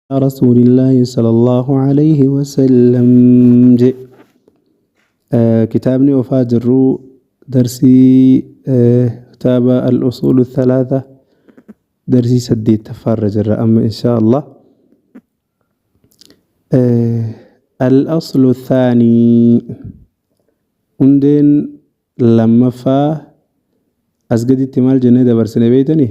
yaa rasuulillaahi sallallahu alayhi wasallam je kitaabni ofaa jirru darsii kitaaba al-usuulu thalaatha darsii saddeettaffaa irra jirra amma inshaa allah al-aslu thaanii hundeen lammaffaa as gaditti maal jennee dabarsine beeytanii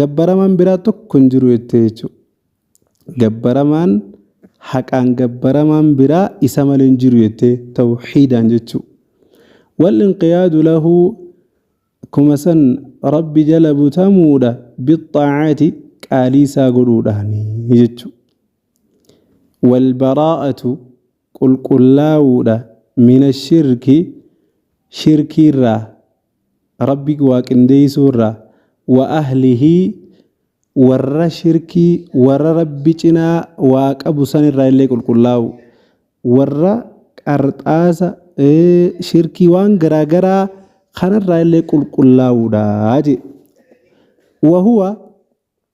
gabbaramaan biraa tokko hin jiru jettee jechuudha. Gabbaramaan haqaan gabbaramaan biraa isa malee hin jiru jettee tawxiidaan jechuudha. Wal inqiyaadu lahu akkuma san rabbi jala butamuudha bixxaacaati qaalii isaa godhuudhaani jechuudha. Wal baraa'atu qulqullaa'uudha mina shirki shirkiirraa Rabbi waa qindeeysuu irraa, wa ahlihi warra shirkii warra Rabbi cinaa waa qabu san irraa illee qulqullaawuu, warra qarxaasa, shirkii waan garaa garaa kana irraa illee qulqullaawuudha jee. Wa huwa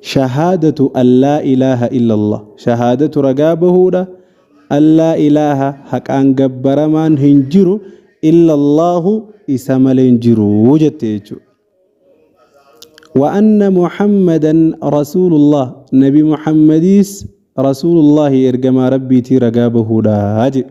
Shahaadatu an laa ilaaha illallah, shahaadatu ragaa bahuudha, an laa ilaaha haqaan gabbaramaan hin jiru illallaahu isa malee hin jiru jette jechuudha. Wa anna Muhammadan rasuulullah, nabi Muhammadiis rasuulullaahi ergamaa Rabbiitii ragaa bahuudha jedhe.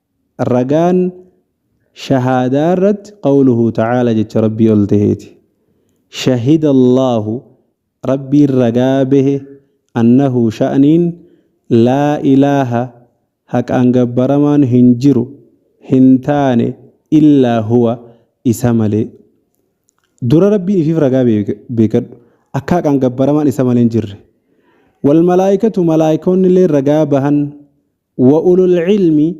Ragaan shahaadaa irratti qawluhu ta'aala jecha Rabbii ol taheeti. Shahida Allaahu Rabbiin ragaa bahe annahu sha'niin laa ilaaha haqaan gabbaramaan hin jiru hin taane illaa huwa isa malee. Dura Rabbiin ifiif ragaa beekadhu akka haqaan gabbaramaan isa malee hin jirre. Wal malaa'ikatu malaa'ikoonni illee ragaa bahan Wa ulul ilmi,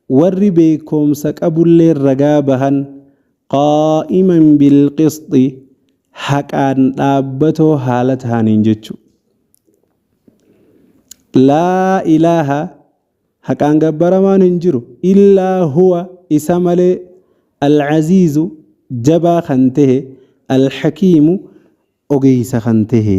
warri beekkoomsa qabulleen ragaa bahan, qaa'iman bil qisxi, haqaan dhaabbatoo haala tahaniin jechu. Laa ilaaha, haqaan gabbaramaan hin jiru, illaa huwa, isa malee, al aziizu, jabaa kan tehe, al hakiimu, ogeeysa kan tehe.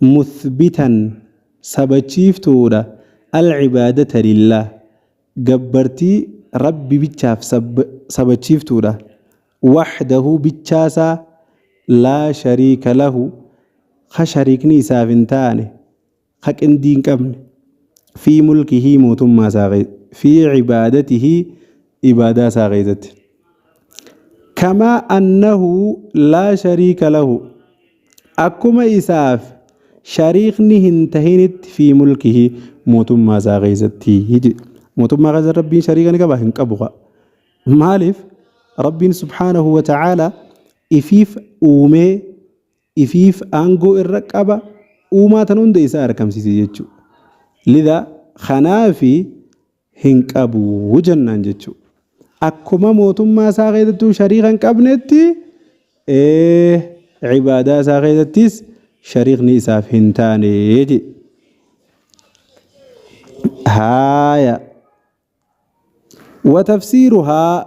Muthbitan, sabachiiftuudha, Al-ibaadata lillaah, gabbartii Rabbi bichaaf sabachiiftuudha, wahdahu bichaasaa, laa shariika lahu, kha shariikni isaaf hin taane, kha qindii hin qabne, fii mulkihii mootummaa isaa keessatti, fii ibaadatihii ibaadaa isaa keessatti. Kamaa annahu laa shariika lahu, Akkuma isaaf shariikni hin tahinitti fi mulkihi mootummaa isaa keessatti jedhe. Mootummaa keessa Rabbiin shariika ni qaba hin qabu kaa. Maaliif Rabbiin subhaanahu wa ta'aala ifiif uumee ifiif aangoo irra qaba uumaa tan hunda isaa argamsiise jechuudha. Lidaa kanaafi hin qabu jennaan jechuudha. Akkuma mootummaa isaa keessattuu shariika hin qabnetti ee ibaadaa isaa keessattis shariikni isaaf hin taane jedhe. Haaya. Watafsiiruhaa